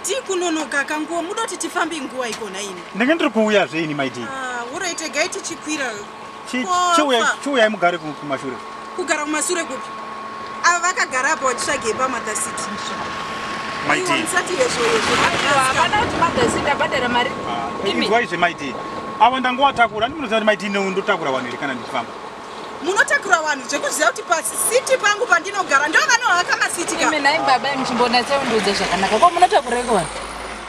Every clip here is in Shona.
tii kunonoka akanguwo muda kuti tifambe nguva ikona ini ndenge ndiri kuuya zveini maidii ah, uroitegai tichikwira chiuyai mugare kumashure kugara kumashure kupi ava vakagara apa vachitsvage pamother city maiti avo ndangovatakura ndinoziva kuti maiti ineu ndotakura vanhu here kana ndifamba munotakura vanhu zvekuziva kuti pasiti pangu pandinogara ndovanohaka masiti ka imi nai baba imuchimbonatseu ndiudze zvakanaka ko munotakureko vanhu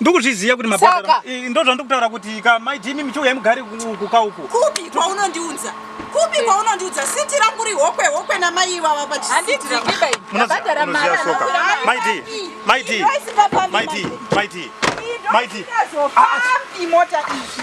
ndokuzviziva kuti mabhadhara ndozvandikutaura kuti ka mai jimi michiuya mugari kuka uku kupi kwaunondiudza kupi kwaunondiudza siti rangu ri hokwe hokwe namai ivava pachisitiabhadhara maramaitii maitii maitii maitii maitii mota izvi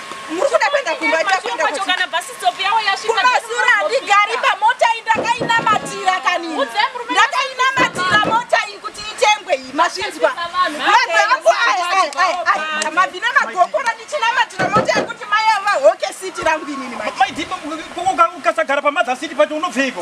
Murikuda kuenda kumba ita kuenda kuti. Kana bus stop yawo yasvika. Kumasura ndigari pamota iyi ndakainamatira kanini. Ndakainamatira mota iyi kuti itengwe iyi mazvinzwa. Vanhu vangu aya aya aya. Mavina magokora ndichinamatira mota yekuti mai ava hoke city rangu inini mai. Mai Dima ukasagara pamadha city pacho unobveiko?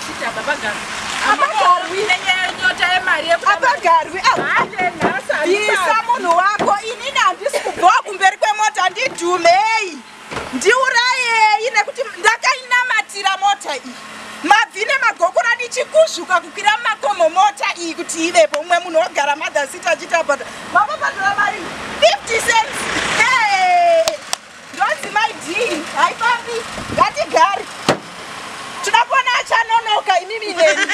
Isa munhu wako inini handisi kubhowa kumberi kwemota ndidhumei ndiurayei nekuti ndakainamatira mota iyi mabvi nemagokora ndichikuzvuka kukwira makomo mota iyi kuti ivepo umwe munhu ogara madhasita achitapata mababadura mari 50 cents Ndonzi mai Dee haifambi ngatigare. Tinoda kuona achanonoka imimi neni.